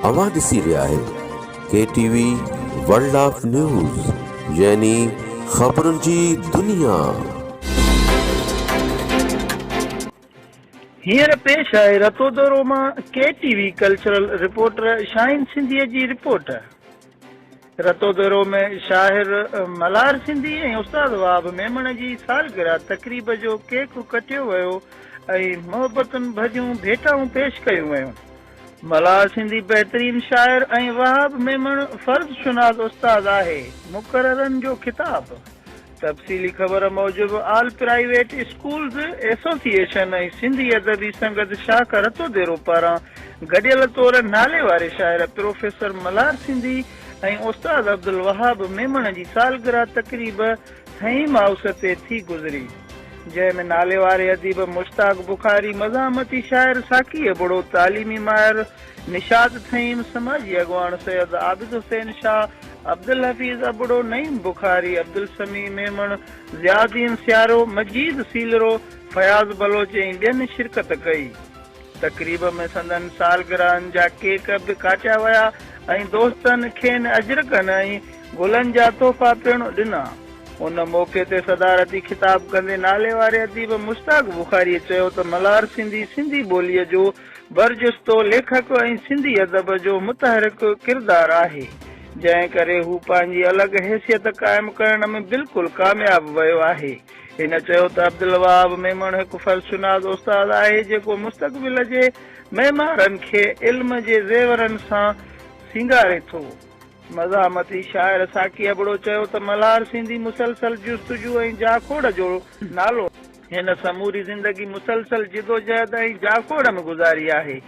اوهان ڏسي رهيا آهيو K T V world of news يعني خبرن جي دنيا. هينئر پيش آهي رتودورو مان K T V cultural reporter Shaheen سنڌيء جي رپورٽ. رتو دورو ۾ شاعر ملهار سنڌي ۽ استاد وهاب ميمڻ جي سالگرهه تقريب جو ڪيڪ ڪٽيو ويو ۽ محبتن ڀريون ڀيٽائون پيش ڪيون ويون. ملهار سنڌي بهترين شاعر ۽ وهاب ميمڻ فرض شناس استاد آهي، مقررن جو خطاب. تفصيلي خبر موجب all private schools association ۽ Sindhi Adabi Sangat شاخ رتو ديرو پاران گڏيل طور ناليواري شاعر پروفيسر ملهار سنڌي ۽ استاد عبدالوهاب ميمڻ جي سالگرهه تقريب ٿهيم هائوس تي ٿي گذري جنهن ۾ ناليواري اديب مشتاق بخاري مزاحمتي شاعر ساقي ابڙو تعليمي ماهر نشاط ٿهيم، سماجي اڳواڻ سيد عابد حسين شاهه، عبدالحفيظ ابڙو، نعيم بخاري، عبدالسميع ميمڻ، ضياءالدين سيارو، مجيد سيلرو، فياض بلوچ ۽ ٻين شرڪت ڪئي. تقريب ۾ سندن سالگرهن جا ڪيڪ به ڪاٽيا ويا ۽ دوستن کين اجرڪن ۽ گلن جا تحفا پڻ ڏنا. ان موقعي تي صدارتي خطاب ڪندي ناليواري اديب مشتاق بخاريء چيو ته ملهارسنڌي سنڌي ٻوليء جو برجستو ليکڪ ۽ سنڌي ادب جو متحرڪ ڪردار آهي، جنهن ڪري هو پنهنجي الڳ حيثيت قائم ڪرڻ ۾ بلڪل ڪامياب ويو آهي. هن چيو ته عبدالوهاب ميمڻ هڪ فرشناس استاد آهي، جيڪو مستقبل جي معمارن کي علم جي زيورن سان سينگاري ٿو. مزاحمتي شاعر ساقي ابڙو چيو ته ملهار سنڌي مسلسل جستجو ۽ جاکوڙ جو نالو آهي. هن سموري زندگي مسلسل جدوجهد ۽ جاکوڙ ۾ گذاري آهي.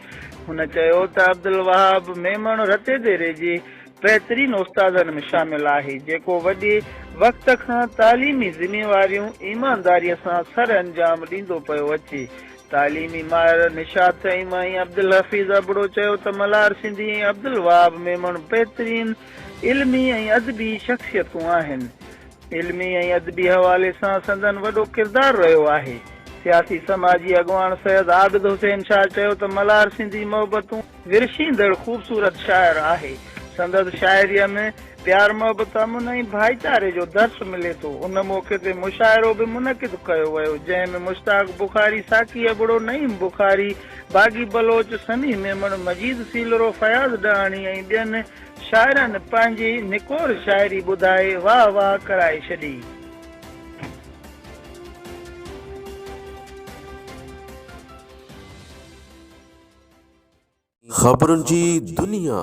هن چيو ته عبدالوهاب ميمڻ رتي ديري جي بهترين استادن ۾ شامل آهي، جيڪو وڏي وقت کان تعليمي ذميواريون ايمانداريء سان سر انجام ڏيندو پيو اچي. تعليمي ماهر نشاط فهيم ۽ عبدالحفيظ ابڙو چيو ته ملهار سنڌي ۽ عبدالوهاب ميمڻ بهترين علمي ۽ ادبي شخصيتون آهن. علمي ۽ ادبي حوالي سان سندن وڏو ڪردار رهيو آهي. سياسي سماجي اڳواڻ سيد عابد حسين شاهه چيو ته ملهار سنڌي محبتون ورشيندڙ خوبصورت شاعر آهي. سندس شاعريء ۾ پيار محبت امن ۽ ڀائيچاري جو درس ملي ٿو. ان موقعي تي مشاعرو به منعقد ڪيو ويو جنهن ۾ مشتاق بخاري، ساقي ابڙو، نعيم بخاري، باغي بلوچ، سميع ميمڻ، مجيد سيلرو، فياض ڏاهاڻي ۽ ٻين شاعرن پنهنجي نڪور شاعري ٻڌائي واهه واهه ڪرائي ڇڏي. خبرن جي دنيا.